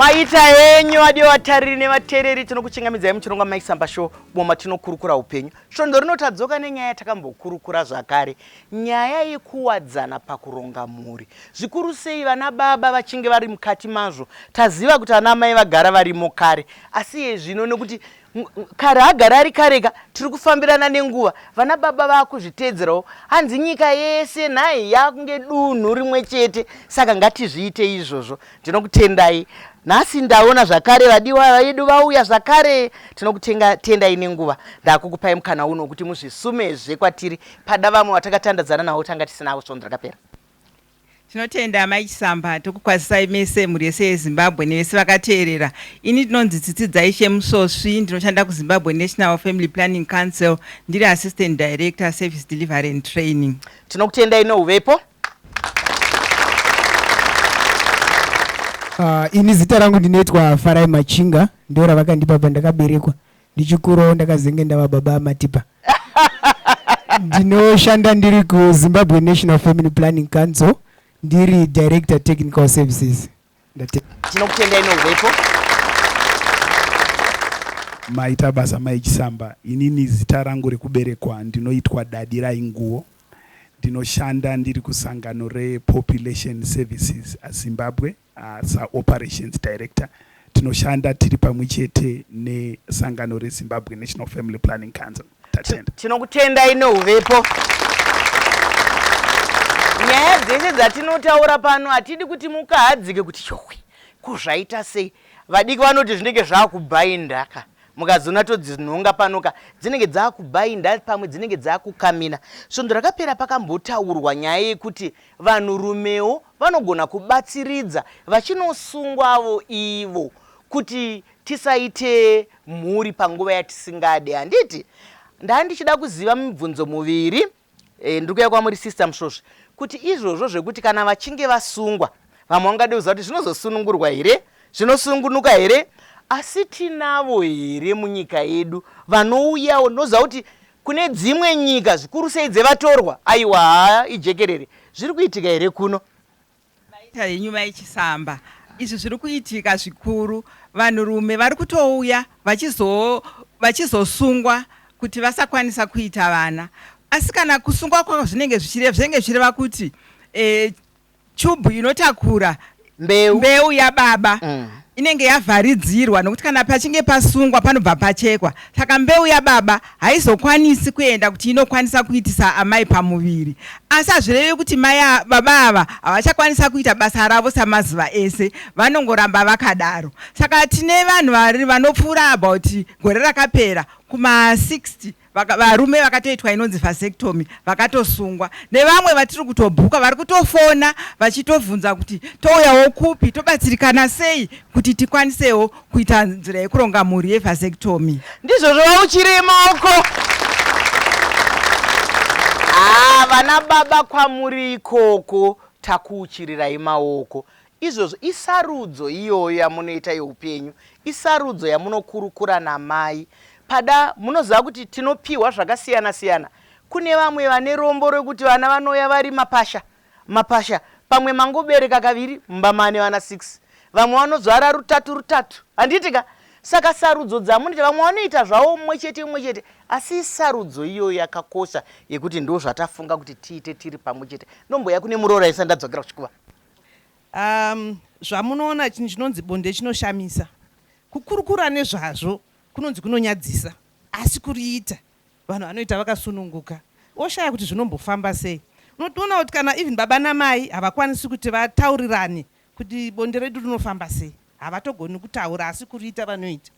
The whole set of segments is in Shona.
maita henyu adiwa vatariri nevatereri tinokuchingamidzai muchirongwa maisamba show boma tinokurukura upenyu svondo rinotadzoka nenyaya yatakambokurukura zvakare Nyaya yekuwadzana pakuronga mhuri, zvikuru sei vana baba vachinge vari mukati mazvo. Taziva kuti ana amai vagara varimo kare asi iye zvino nekuti kare agara ari kareka tiri kufambirana nenguva vana baba vakuzviteedzerawo hanzi nyika yese nhai yakunge dunhu rimwe chete saka ngatizviite izvozvo tinokutendai nhasi ndaona zvakare vadiwa vedu vauya zvakare tinokutendai nenguva ndakukupai mukana uno kuti muzvisumezve kwatiri pada vamwe vatakatandadzana navo tanga tisinavo svondo rakapera tinotenda amai chisamba tokukwazisai mese mhuri yese yezimbabwe nevese vakateerera ini ndinonzi tsitsidzai shemusvosvi ndinoshanda kuzimbabwe national family planning council ndiri assistant director service delivery and training tinokutendai nouvepo Uh, ini zita rangu ndinoitwa farai machinga ndo ravakandipa pandakaberekwa ndichikurawo ndakazenge ndava baba amatipa ndinoshanda ndiri kuzimbabwe national family planning council ndiri director technical services tinokutendai nouvepo maita basa mai chisamba inini zita rangu rekuberekwa ndinoitwa dadi rainguwo ndinoshanda ndiri kusangano repopulation services zimbabwe uh, saoperations director tinoshanda tiri pamwe chete nesangano rezimbabwe national family planning council Tatenda. Tinokutendai neuvepo. Nyaya dzese dzatinotaura pano hatidi kuti mukahadzike kuti yohwe kuzvaita sei. Vadiki vanoti zvinenge zvakubhainda ka mukazoona todzinhonga pano ka dzinenge dzakubhainda pamwe dzinenge dzakukamina. Svondo rakapera pakambotaurwa nyaya yekuti vanhurumewo vanogona kubatsiridza vachinosungwavo ivo kuti Tisaite mhuri panguva yatisingade handiti? Ndanga ndichida kuziva mibvunzo muviri e, ndiri kuya kwamuri sister Musvosvi kuti izvozvo zvekuti kana vachinge vasungwa vamwe vangade kuziva kuti zvinozosunungurwa here zvinosungunuka here asi tinavo here munyika yedu vanouyawo ndinoziva kuti kune dzimwe nyika zvikuru sei dzevatorwa aiwa haa ijekerere zviri kuitika here kuno Nyika yenyu mai Chisamba izvi zviri kuitika zvikuru vanhurume vari kutouya vachizosungwa kuti vasakwanisa kuita vana asi kana kusungwa kwavo zvinenge zvichireva zvinenge zvichireva kuti eh, chubhu inotakura mbeu, mbeu yababa mm. inenge yavharidzirwa nokuti kana pachinge pasungwa panobva pachekwa saka mbeu yababa haizokwanisi kuenda kuti inokwanisa kuitisa amai pamuviri asi hazvireve kuti mai baba ava havachakwanisa kuita basa ravo samazuva ese vanongoramba vakadaro saka tine vanhu vari vanopfuura about gore rakapera kuma 60 Vaka, varume vakatoitwa inonzi vasectomy vakatosungwa nevamwe vatiri kutobhuka vari kutofona vachitobvunza kuti touyawo kupi tobatsirikana sei kuti tikwanisewo kuita nzira yekuronga mhuri yevasectomy ndizvo zvova uchirimo uko haa ah, vana baba kwamuri ikoko takuuchirirai maoko Izvozvo isarudzo iyoyo yamunoita youpenyu, isarudzo yamunokurukura namai. Pada, munoziva kuti tinopihwa zvakasiyana siyana. Kune vamwe vane rombo rekuti vana vanouya vari mapasha mapasha, pamwe mangobereka kaviri mumba mane vana six, vamwe vanozvara rutatu rutatu, handiti ka? Saka sarudzo dzamunoita, vamwe vanoita zvavo umwe chete umwe chete, asi isarudzo iyoyo yakakosha yekuti ndozvatafunga kuti tiite tiri pamwe chete. Ndomboya kune muroora isa ndadzokera kuchikuva. Umm zvamunoona chinhu chinonzi bonde chinoshamisa. Kukurukura nezvazvo kunonzi kunonyadzisa asi kuriita vanhu vanoita vakasununguka woshaya kuti zvinombofamba sei. Unotoona kuti kana even baba namai havakwanisi kuti vataurirane kuti bonde redu rinofamba sei. Havatogoni kutaura asi kuriita vanoita.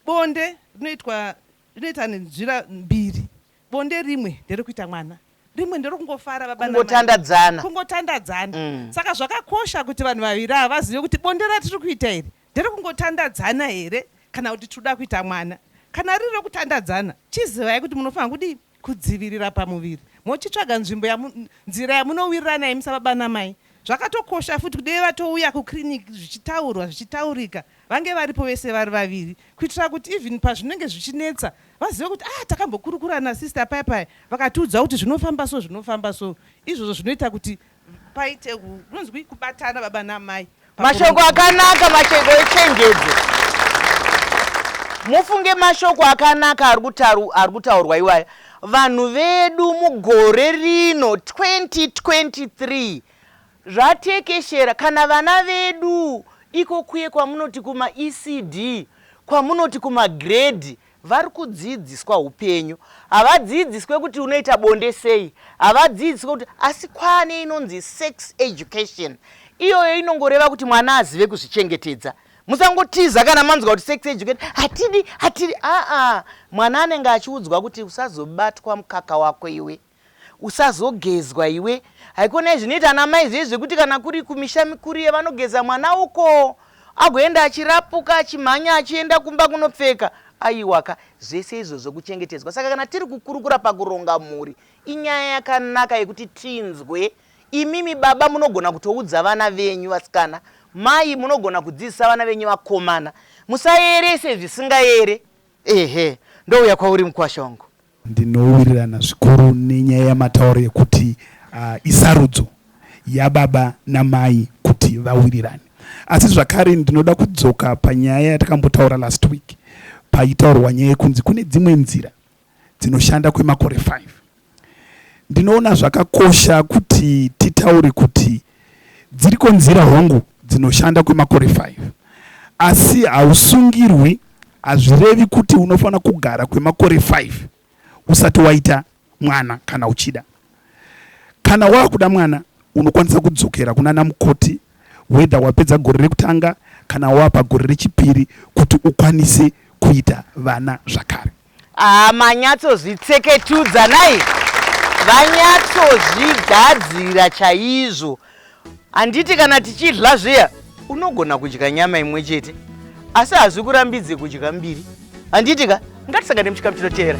Bonde rinoitwa rinoita nenzira mbiri Bonde rimwe nderekuita mwana rimwe nderokungofara baba namai. Kungotandadzana. Kungotandadzana. Saka zvakakosha kuti vanhu vaviri ava vazive kuti bonde ratiri kuita iri nderekungotandadzana here kana kuti tiri kuda kuita mwana. Kana riri rekutandadzana, chizivai kuti munofanira kudii? Kudzivirira pamuviri mochitsvaga nzvimbo yamu, nzira yamunowirirana imi sababa namai. Zvakatokosha futi kuti dei vatouya kuclinic zvichitaurwa, zvichitaurika Vange varipo vese vari vaviri kuitira kuti even pazvinenge zvichinetsa vazive kuti ah takambokurukura nasister paya paya vakatiudza kuti zvinofamba so zvinofamba so izvozvo zvinoita kuti paite kunonzwi kubatana baba namai mashoko akanaka mashoko echenjedzo mufunge mashoko akanaka ari kutaru ari kutaurwa iwaya vanhu vedu mugore rino 2023 Zvatekeshera kana vana vedu iko kuye kwamunoti kuma ECD kwamunoti kuma grade vari kudziidziswa hupenyu havadziidziswe kuti unoita bonde sei havadziidziswe kuti asi kwaane inonzi sex education iyoyo inongoreva kuti mwana azive kuzvichengetedza musangotiza kana manzwa kuti sex education hatidi hatidi aa mwana anenge achiudzwa kuti usazobatwa mukaka wako iwe Usazogezwa iwe. Haikona zvinoita ana mai zviye zvekuti kana kuri kumisha mikuru iye vanogeza mwana uko agoenda achirapuka achimhanya achienda kumba kunopfeka. Aiwaka, zvese izvozvo kuchengetedzwa. Saka kana tiri kukurukura pakuronga mhuri, inyaya yakanaka yekuti tinzwe. Imimi baba munogona kutoudza vana venyu vasikana, mai munogona kudzidzisa vana venyu vakomana. Musaerese zvisingaere. Ehe, ndouya kwauri mukwasha wangu. Ndinowirirana zvikuru nenyaya yamataura yekuti isarudzo yababa namai kuti vawirirane. Asi zvakare ndinoda kudzoka panyaya yatakambotaura last week paitaurwa nyaya yekunzi kune dzimwe nzira dzinoshanda kwemakore 5. Ndinoona zvakakosha kuti titaure kuti Dziriko nzira hongu dzinoshanda kwemakore 5 asi hausungirwi hazvirevi kuti unofanira kugara kwemakore 5 usati waita mwana kana uchida kana wakuda mwana unokwanisa kudzokera kunana mukoti whether wapedza gore rekutanga kana wapa gore rechipiri kuti ukwanise kuita vana zvakare Haa manyatsozvitseketudza nhai vanyatsozvigadzira chaizvo handiti kana tichidla zviya unogona kudya nyama imwe chete asi hazvikurambidze kudya mbiri handiti ka ngatisangane muchikamu chinoteera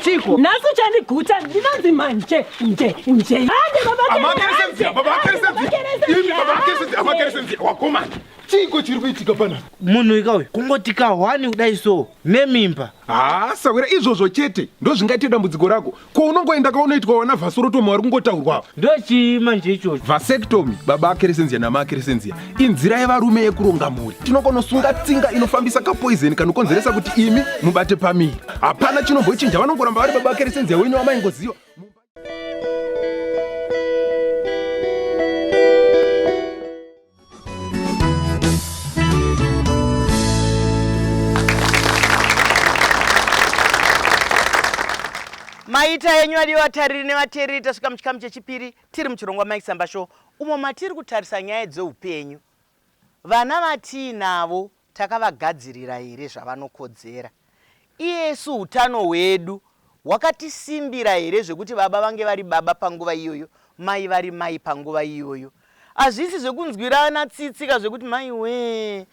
chiko nhasi uchandiguta ndinonzi manje nje nje wakomana chiiko chiri kuitika pana munhu ika uyu kungoti kahwani kudai so nemimba haa sahwira izvozvo chete ndozvingaite dambudziko rako ko unongoenda kaunoitwa wana vhasorotomi wari kungotaurwa ava ndochii manje ichocho vasectomy baba akeresenzia nama akeresenzia inzira yevarume yekuronga mhuri tinokonosunga tsinga inofambisa kapoizeni kanokonzeresa kuti imi mubate pamiri hapana chinombochinja vanongoramba vari baba akeresenzia wenyu wamaingoziva Mumba- maita yenyu adiwa vatariri nevateereri tasvika muchikamu chechipiri tiri muchirongwa maisamba show umo matiri kutarisa nyaya dzeupenyu vana vatiinavo Takavagadzirira here zvavanokodzera? Isu utano hwedu hwakatisimbira here zvekuti baba vange vari baba panguva iyoyo, mai vari mai panguva iyoyo? Hazvisi zvekunzwirana tsitsi ka zvekuti mai wee,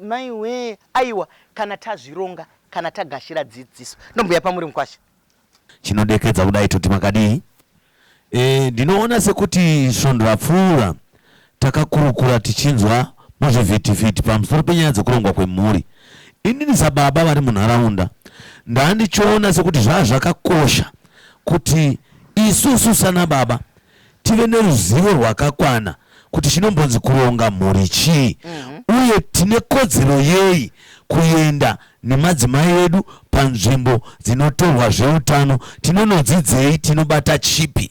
mai wee, aiwa kana tazvironga, kana tagashira dzidziso. Ndombouya pamuri mukwasha. Chinodekedza kudai toti makadii. E, ndinoona sekuti svondo rapfuura takakurukura tichinzwa muzvivhitivhiti pamusoro penyaya dzekurongwa kwemhuri. Inini sababa vari munharaunda ndandichiona sekuti zvazvakakosha kuti isusu sanababa tive neruzivo rwakakwana kuti chinombonzi kuronga mhuri chii uye tine kodzero yei kuenda nemadzimai edu panzvimbo dzinotorwa zveutano, tinonodzidzei, tinobata chipi.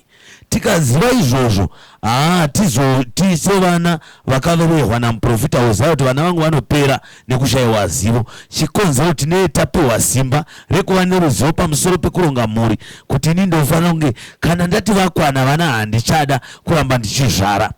Tikaziva izvozvo, haa, hatizoti sevana vakarohwa namuporofita Hosea kuti vana vangu vanopera, nekushaiwa zivo chikonzero tinee tapiwa simba rekuva neruzivo pamusoro pekuronga mhuri kuti ini ndofanira kunge kana ndati vakwana vana handichada kuramba ndichizvara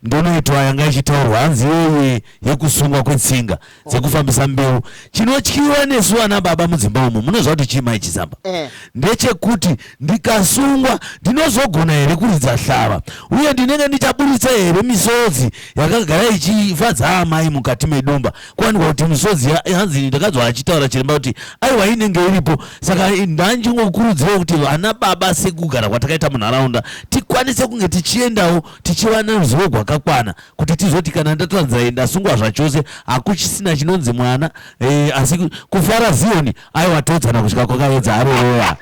ndonoitwa yanga ichitaurwa hanzi yeye yekusungwa kwetsinga dzekufambisa mbeu chinotyiwa nesu vana baba mudzimba umu munoziva kuti chii mai chisamba eh. ndechekuti Ndikasungwa, ndinozogona here kuridza hlava? Uye ndinenge ndichaburitsa here misodzi yakagara ichifadza amai mukati medumba? Kuwanikwa kuti misodzi hanzi ndakanzwa achitaura chiremba kuti aiwa inenge iripo. Saka ndandingokurudzirawo kuti vana baba sekugara kwatakaita munharaunda tikwanise kunge tichiendawo tichiva neruzivo rwakakwana kuti tizoti kana ndatoranzira ndasungwa zvachose hakuchisina chinonzi mwana e, asi kufara Zioni Aiwa todzana kudya kwakaedza harereya.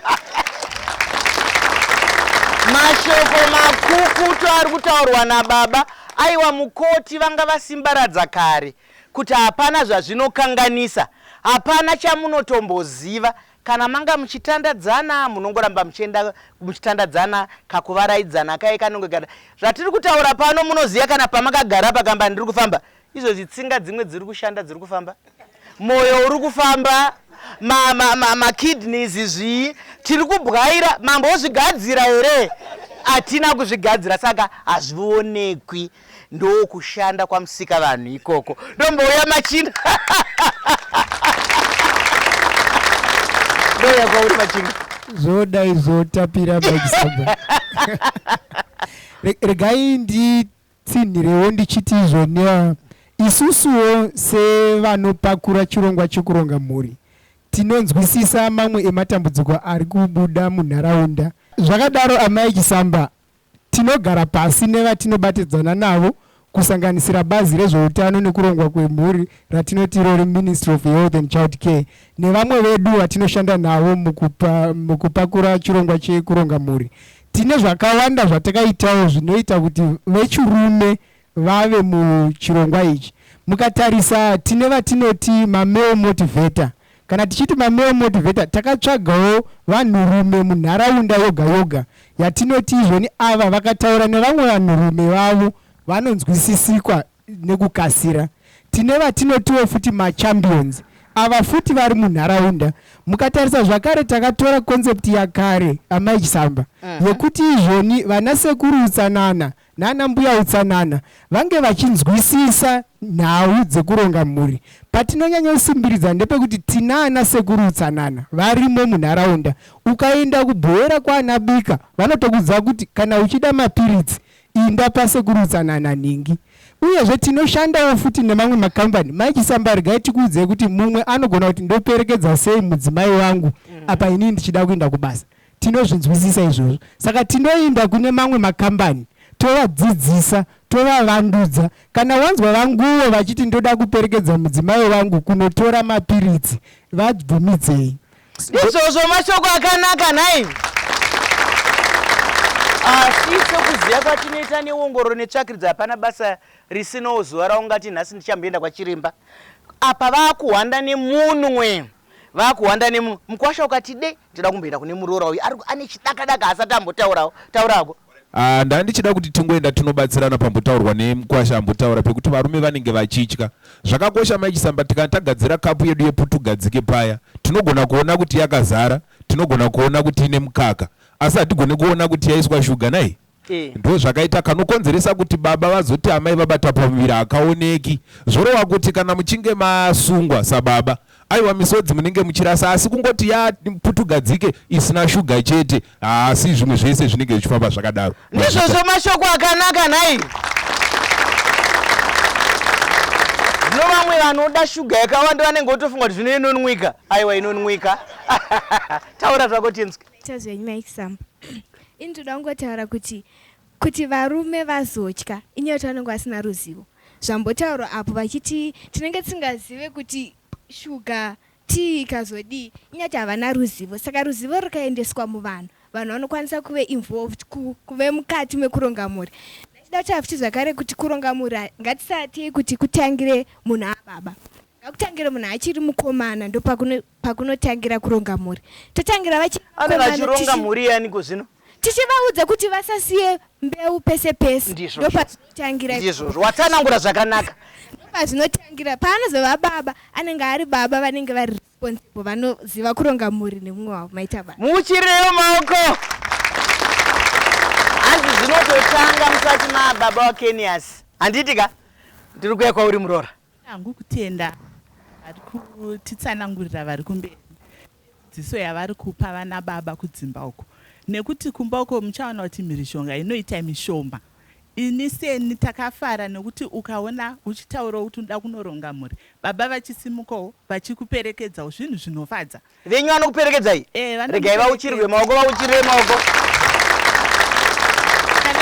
Mashoko makukutu ari kutaurwa nababa aiwa mukoti vanga vasimbaradza kare kuti hapana zvazvinokanganisa hapana chamunotomboziva kana manga muchitandadzana munongoramba muchienda muchitandadzana kakuvaraidzana kaye kanonge kata zvatiri kutaura pano munoziva kana pamakagara pakamba ndiri kufamba Izvozvi tsinga dzimwe dziri kushanda dziri kufamba. Moyo uri kufamba makidneys zvii tiri kubwaira mambo ozvigadzira here hatina kuzvigadzira saka hazvionekwi ndokushanda kwamusika vanhu ikoko ndombouya machinda ndouya kwauri machinda zvodai zvotapira regai ndi tsinhirewo ndichiti izvo nea isusuwo sevanopakura chirongwa chekuronga mhuri tinonzwisisa mamwe ematambudziko ari kubuda munharaunda. Zvakadaro, Amai Chisamba tinogara pasi nevatinobatidzana navo kusanganisira bazi rezveutano nekurongwa kwemhuri ratinoti iro reMinistry of Health and Child Care nevamwe vedu vatinoshanda navo mukupa, mukupakura chirongwa chekuronga mhuri Tine zvakawanda zvatakaitawo zvinoita kuti vechirume vave muchirongwa ichi. Mukatarisa tine vatinoti mamale motivator. Kana tichiti mamale motivator takatsvagawo vanhurume munharaunda yoga yoga yatinoti izvoni ava vakataura nevamwe vanhurume vavo vanonzwisisikwa nekukasira. Tine vatinotiwo futi machambions ava futi vari munharaunda. Mukatarisa zvakare takatora concept yakare Amai Chisamba yekuti izvoni vana sekuru utsanana nana mbuya utsanana vange vachinzwisisa nhau dzekuronga mhuri. Patinonyanyosimbirira ndepekuti tinaana sekuru utsanana varimo munharaunda. Ukaenda kuBuhera kwaana Bika vanotokuudza kuti kana uchida mapiritsi Imba pasekuru utsanana nhingi. Uyezve tinoshandawo futi nemamwe makambani. Mai Chisamba regai tikuudzei kuti mumwe anogona kuti ndoperekedza sei mudzimai wangu apa inini ndichida kuinda kubasa. Tinozvinzwisisa izvozvo. Saka tinoinda kune mamwe makambani tovadzidzisa, tovavandudza. Kana wanzwa vanguwo vachiti ndoda kuperekedza mudzimai wangu kunotora mapiritsi, vabvumidzei. izvozvo mashoko akanaka nhai asi ah, sekuziva kwatinoita neongororo netsvakiridzo hapana basa risinawo zuva raungati nhasi ndichamboenda kwachiremba apa vakuhwanda nemunwe vakuhwanda nemunwe mukwasha ukati de ndida kumboenda kune muroora uyu ane chidakadaka asati ambotaurawo taurako Ahh ndandichida kuti tingoenda tinobatsirana pambotaurwa nemukwasha ambotaura pekuti varume vanenge vachitya zvakakosha mai chisamba tikana tagadzira kapu yedu yeputugadzike paya tinogona kuona kuti yakazara tinogona kuona kuti ine mukaka asi hatigone kuona kuti yaiswa shuga nai ndozvakaita kanokonzeresa kuti baba vazoti amai vabata pamuviri hakaoneki zvorova kuti kana muchinge masungwa sababa Aiwa misodzi munenge muchirasa asi kungoti ya putugadzike isina shuga chete haasi zvimwe zvese zvinenge zvichifamba zvakadaro. Ndizvozvo mashoko akanaka nhai. Zvino vamwe vanoda shuga yakawanda vanenge votofunga kuti zvino inonwika. Aiwa inonwika. Taura zvako tinzwe. Tazwe nyuma example. Ini ndoda kungotaura kuti Kuti varume vazotya inyaya yekuti vanenge vasina ruzivo zvambotaurwa apo vachiti tinenge tisingazive kuti shuga tea ikazodii inyaya yekuti havana ruzivo saka ruzivo rukaendeswa muvanhu vanhu vanokwanisa kuve involved ku, kuve mukati mekuronga mhuri ndachida kutaura futi zvakare kuti kuronga mhuri ha- ngatisatei kuti kutangire munhu ababa ngakutangire munhu achiri mukomana ndopakuno pakunotangira kuronga mhuri totangira vachi anenge achironga mhuri yaaniko zvino tichivaudza kuti vasasiye mbeu pese pese ndopazvinotangira izvozvo watsanangura zvakanaka ndopazvinotangira paanozova baba anenge ari baba vanenge vari responsible vanoziva kuronga mhuri nemumwe wavo maita baba muchirirewo maoko hanzi zvinototanga musati mababa wakeniasi handiti ka ndiri kuya kwauri muroora Hangu kutenda vari kutitsanangurira vari kumberi dzidziso yavari kupa vana baba kudzimba uko nekuti kumba uko muchaona kuti mhirizhonga inoita mishoma ini seni takafara nekuti ukaona uchitaurawo kuti unoda kunoronga mhuri baba vachisimukawo vachikuperekedzawo zvinhu zvinofadza venyu vanokuperekedzai eh, regai vauchirirwe maoko vauchirire maoko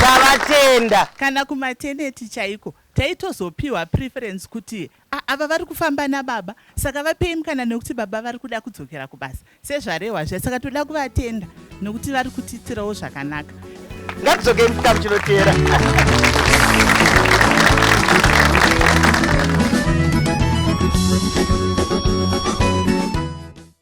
tavatenda kana kumateneti chaiko Taitozopiwa preference kuti ah ava vari kufamba nababa saka vapei mukana nekuti baba vari kuda kudzokera kubasa sezvarehwa zviya saka toda kuvatenda nekuti vari kutiitirawo zvakanaka. Ngatidzokei muchikamu chinoteera.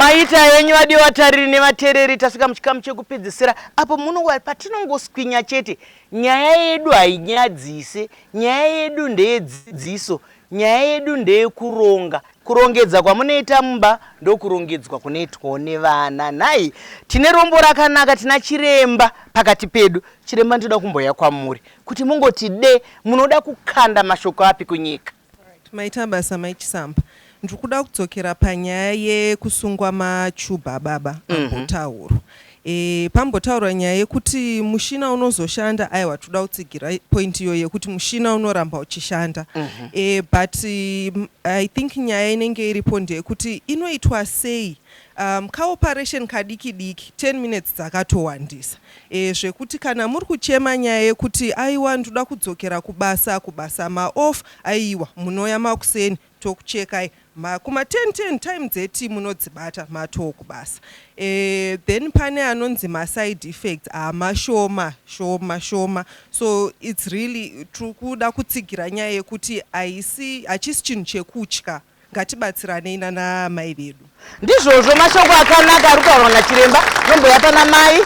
maita yenyu vadi vatariri nevatereri tasvika muchikamu chekupedzisira apo munowa patinongoswinya chete nyaya yedu hainyadzise nyaya yedu ndeyedzidziso Nyaya yedu ndeyekuronga. Kurongedza kwamunoita mumba ndokurongedzwa kunoitwawo nevana. Nhai, tine rombo rakanaka, tina chiremba pakati pedu. Chiremba ndinoda kumbouya kwamuri kuti mungoti de munoda kukanda mashoko api kunyika. Maita basa mai Chisamba. Ndiri kuda kudzokera panyaya yekusungwa machuba ababa ambotaurwa. E, pambotaurwa nyaya yekuti mushina unozoshanda aiwa toda kutsigira point iyoyo yekuti mushina unoramba uchishanda mm -hmm. e, but um, i think nyaya inenge iripo ndeyekuti inoitwa sei um, kaoperation kadiki diki 10 minutes dzakatowandisa e, zvekuti kana muri kuchema nyaya yekuti aiwa ndoda kudzokera kubasa kubasa maoff aiwa munoya makuseni tokuchekai mha kuma 10 10 time dzeti munodzibata matoo kubasa e, then pane anonzi maside effects ah, mashoma shoma shoma so its really tiri kuda kutsigira nyaya yekuti haisi hachisi chinhu chekutya ngatibatsiranei nana mai vedu ndizvozvo mashoko akanaka ari kutaurwa nachiremba nomboya pana mai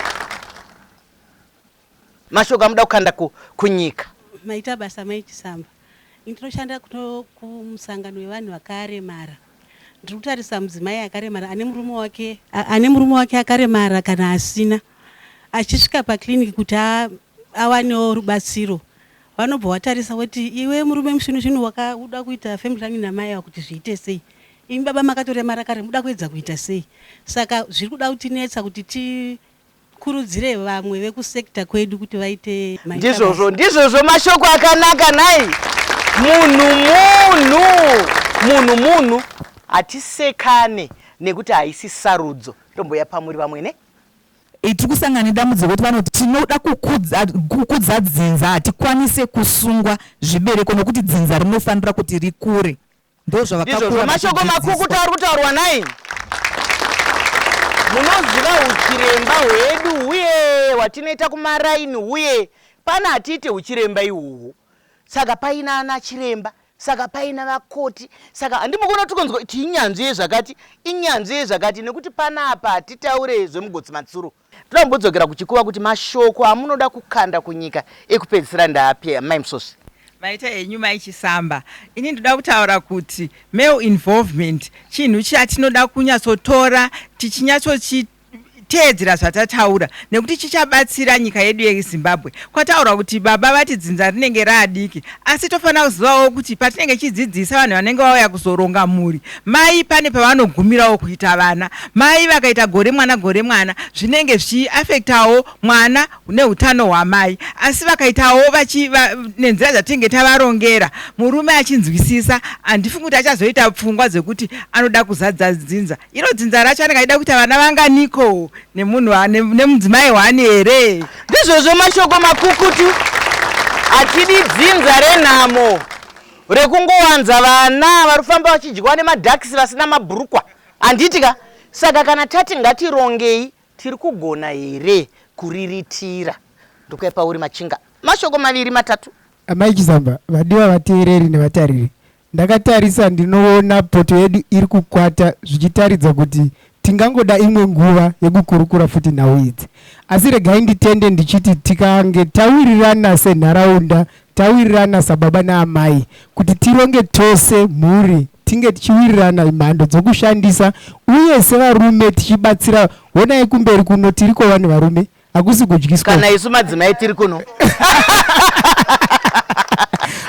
Mashoko amuda kukanda ku, kunyika. Maita basa mai Chisamba. Ini ndinoshanda kumusangano wevanhu vakaremara. Ndiri kutarisa mudzimai akaremara ane murume wake ane murume wake akaremara kana asina achisvika paclinic kuti awanewo rubatsiro vanobva watarisa woti iwe murume musvinu zvinu wakauda kuita family planning namai ava kuti zviite sei imi baba makatoremara kare muda kuedza kuita sei saka zviri kuda kutinetsa kuti ti Kurudzirei vamwe vekusector kwedu kuti vaite maita Ndizvozvo, basa. ndizvozvo mashoko akanaka nhai. Munhu munhu, munhu munhu. Hatisekane nekuti haisi sarudzo. Ndombouya pamuri vamwe ne. Iyi tiri kusangana nedambudziko rekuti vanoti tinoda kukudza, kukudza dzinza hatikwanise kusungwa zvibereko nokuti dzinza rinofanira kuti rikure. ndozvavakakura mashoko makukuta ari kutaurwa nai munoziva uchiremba hwedu uye watinoita kumaraini uye pana hatiite uchiremba ihwohwo saka paina ana chiremba saka paina vakoti saka handimukona kuti kunzwa tinyanzvi yezvakati inyanzvi yezvakati nekuti panapa hatitaure zvemugotsi matsuro Toda kumbodzokera kuchikuva kuti mashoko amunoda kukanda kunyika ekupedzisira ndaapi amai Musosvi? Maita henyu mai Chisamba. Ini ndoda kutaura kuti male involvement chinhu chatinoda kunyatsotora tichinyatsochi teedzera zvatataura nekuti chichabatsira nyika yedu yezimbabwe kwataurwa kuti baba vati dzinza rinenge raadiki asi tofanira kuzivawo kuti patinenge tichidzidzisa vanhu vanenge vauya kuzoronga mhuri Mai pane pavanogumirawo kuita vana. Mai vakaita gore mwana gore mwana zvinenge zvichi affectawo mwana nehutano hwamai. Asi vakaitawo vachi va, nenzira dzatinenge tavarongera murume achinzwisisa handifungi kuti achazoita pfungwa dzekuti anoda kuzadza dzinza. Iro dzinza racho anenge achida kuita vana vanganiko nemunhu wa- ne- nemudzimai one here? Ndizvozvo mashoko makukutu. Hatidi dzinza renhamo. rekungowanza vana vari kufamba vachidyiwa nemadhakisi vasina mabhurukwa handiti ka saka kana tati ngatirongei tiri kugona here kuriritira ndokuya pauri machinga mashoko maviri matatu amai chizamba vadiwa vateereri nevatariri ndakatarisa ndinoona poto yedu iri kukwata zvichitaridza kuti Tingangoda imwe nguva yekukurukura futi nhau idzi asi regai nditende ndichiti tikange tawirirana senharaunda, tawirirana sababa naamai kuti tironge tose mhuri tinge tichiwirirana mhando dzokushandisa uye sevarume tichibatsira honai kumberi kuno tiriko vanhu varume hakusi kudyiswa kana isu madzimai tiri kuno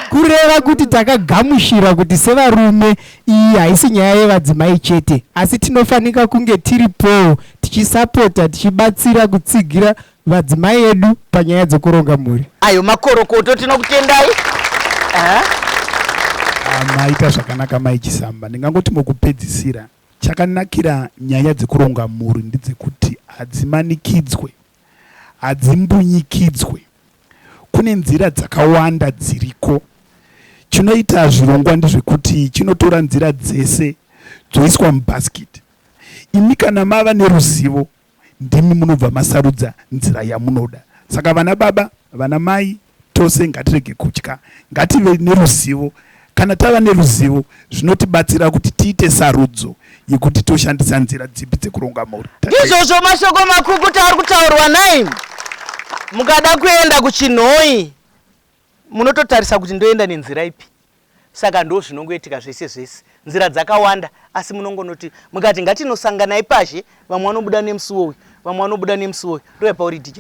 kureva kuti takagamushira kuti sevarume iyi haisi nyaya yevadzimai chete asi tinofanika kunge tiri powo tichisapota tichibatsira kutsigira vadzimai edu panyaya dzokuronga mhuri ayo makorokoto tinokutendai ah, maita zvakanaka mai chisamba ndingangoti mukupedzisira Chakanakira nyaya dzekuronga mhuri ndedzekuti hadzimanikidzwe, hadzimbunyikidzwe. Kune nzira dzakawanda dziriko. Chinoita zvirongwa ndezvekuti chinotora nzira dzese dzoiswa mubhasikiti. Imi kana mava neruzivo ndimi munobva masarudza nzira yamunoda saka vana baba vana mai tose ngatirege kutya ngative neruzivo kana tava neruzivo zvinotibatsira kuti tiite sarudzo yekuti toshandisa nzira dzipi dzekuronga mhuri ndizvozvo mashoko makukuta ari kutaurwa nai mukada kuenda kuchinhoi Munototarisa kuti ndoenda nenzira ipi? Saka ndozvinongoitika zvese zvese. Nzira dzakawanda asi munongonoti mukati ngatinosanganai pazhe vamwe vanobuda nemusuwo uyu vamwe vanobuda nemusuwo uyu ndoyapauri DJ.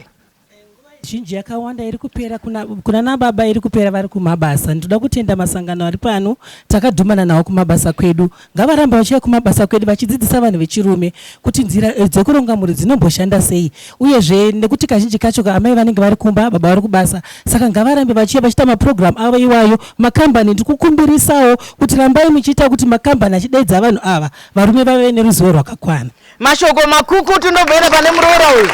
zhinji yakawanda iri kupera kuna, kuna nababa iri kupera vari kumabasa. Ndinoda kutenda masangano ari pano takadhumana nawo kumabasa kwedu. Ngavarambe vachiuya kumabasa kwedu vachidzidzisa vanhu vechirume kuti nzira eh, dzekuronga mhuri dzinomboshanda sei uyezve nekuti kazhinji kacho amai vanenge vari kumba baba vari kubasa saka ngavarambe vachiuya vachiita maprogramu avo iwayo makambani ndikukumbirisawo kuti rambai muchiita kuti makambani achidaidza vanhu ava varume vave neruzivo rwakakwana mashoko makukutu ndobvera pane muroora uyu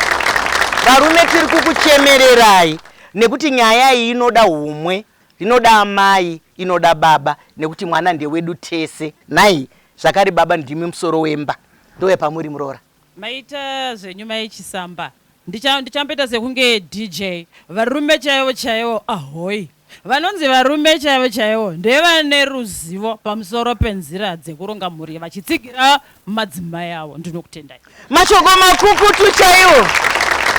varume tiri kukuchemererai nekuti nyaya iyi inoda umwe Rinoda amai inoda baba nekuti mwana ndewedu tese. Nhai zvakare baba ndimi musoro wemba ndove pamuri muroora. Maita zvenyu mai Chisamba. Ndicha ndichamboita sekunge DJ. Varume chaivo chaivo ahoyi. Vanonzi varume chaivo chaivo ndevane ruzivo pamusoro penzira dzekuronga mhuri vachitsigira madzimai avo ndinokutendai. Mashoko makukutu chaiwo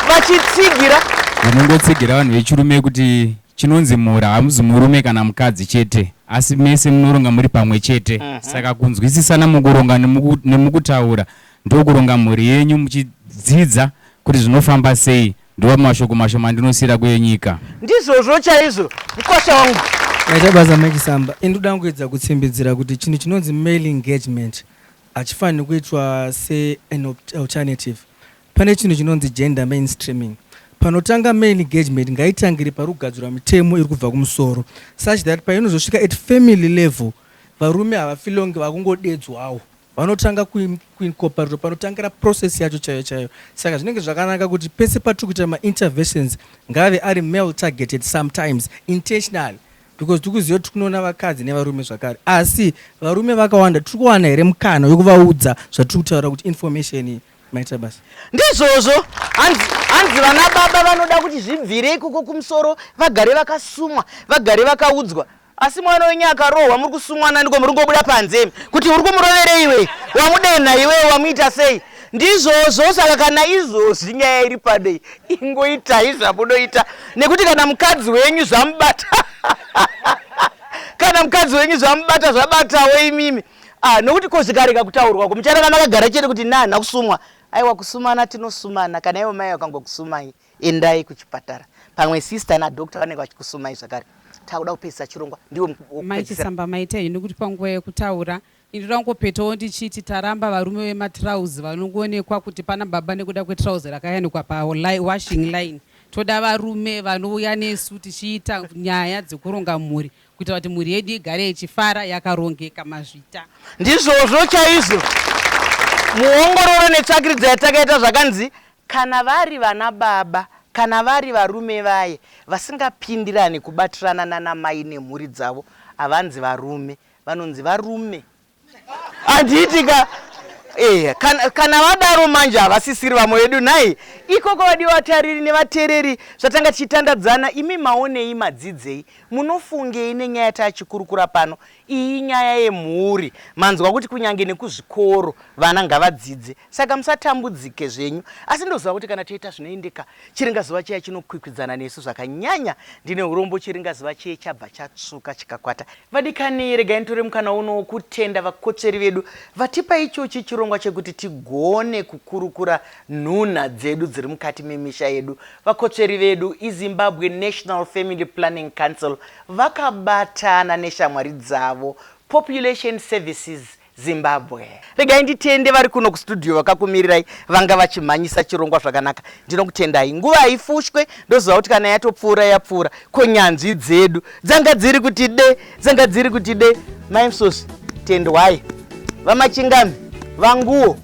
vachitsigira. Vanongotsigira vanhu vechirume kuti chinonzi mhura hamuzi murume kana mukadzi chete asi mese munoronga muri pamwe chete uh mhm. -huh. saka kunzwisisana mukuronga nemukutaura ndokuronga mhuri yenyu muchidzidza kuti zvinofamba sei Ndiwo mashoko mashoma andinosiyira kuye nyika. Ndizvozvo chaizvo mkwasha wangu. Ndaita basa Mike Samba. Ini ndoda kuedza kutsimbidzira kuti chinhu chinonzi male engagement hachifaniri kuitwa se an op- alternative. Pane chinhu chinonzi gender mainstreaming. Panotanga male engagement ngaitangire pari kugadzirwa mitemo iri kubva kumusoro such that painozosvika at family level varume havafilongi vakungodedzwawo Vanotanga kuincorporate panotangira process yacho chaiyo chaiyo. Saka zvinenge zvakanaka kuti pese patiri kuita mainterventions ngave ari male targeted sometimes intentionally because tiri kuziva kuti kunoona vakadzi nevarume zvakare asi varume vakawanda tiri kuwana here mukana wekuvaudza zvatiri kutaura kuti information iyi maita basa ndizvozvo hanzi vana baba vanoda kuti zvibvire ikoko kumusoro vagare vakasumwa vagare vakaudzwa Asi mwana wenyu akarohwa muri kusumwa naniko muri kungobuda panze imi kuti uri kumuroverei iwe wamudenha iwe wamuita sei ndizvozvo saka kana izvozvi nyaya iri pano iyi ingoitai zvamunoita nekuti kana mukadzi wenyu zvamubata kana mukadzi wenyu zvamubata zvabatawo imimi ah, nokuti ko zvikarega kutaurwa ko mucharara makagara chete kuti nani akusumwa aiwa kusumana tinosumana kana ivo mai vakangokusumai Endai kuchipatara pamwe sister na doctor vanenge vachikusumai zvakare. Takuda kupedzisa chirongwa ndiwo wokupedzisira. Mai Chisamba maita henyu kuti panguva yekutaura ini ndoda kungopetawo ndichiti taramba varume vematrouse vanongoonekwa kuti pana baba nekuda kwetrouse rakayanikwa pa li- washing line. Toda varume vanouya nesu tichiita nyaya dzekuronga mhuri kuitira kuti mhuri yedu igare ichifara yakarongeka mazvita. Ndizvozvo chaizvo. Muongororo netsvakiridzo yatakaita zvakanzi Kana vari vana baba kana vari varume vaye vasingapindirane kubatirana nana mai nemhuri dzavo havanzi varume vanonzi varume handiti ka eya kana, kana vadaro manje havasisiri vamwe vedu nhai ikoko vadiwa vatariri nevatereri zvatanga tichitandadzana imi maonei madzidzei munofungei nenyaya yatachikurukura pano iyi inyaya yemhuri manzwa kuti kunyange nekuzvikoro vana ngavadzidze Saka musatambudzike zvenyu, asi ndoziva kuti kana toita zvinoendeka, chiringazuva chiya chinokwikwidzana nesu zvakanyanya. Ndine urombo, chiringazuva chiye chabva chatsvuka chikakwata. Vadikani, regai nditore mukana uno wokutenda vakotsveri vedu vatipa ichochi chirongwa chekuti tigone kukurukura nhunha dzedu dziri mukati memisha yedu. Vakotsveri vedu iZimbabwe National Family Planning Council vakabatana neshamwari dzavo Population Services Zimbabwe. Regai nditende vari kuno kustudio vakakumirirai vanga vachimhanyisa chirongwa zvakanaka. Ndinokutendai. Nguva haifushwe ndoziva kuti kana yatopfuura yapfuura. Ko nyanzvi dzedu dzanga dziri kuti de, dzanga dziri kuti de. Mai Msosi, tendwai. Vamachingami, vanguwo.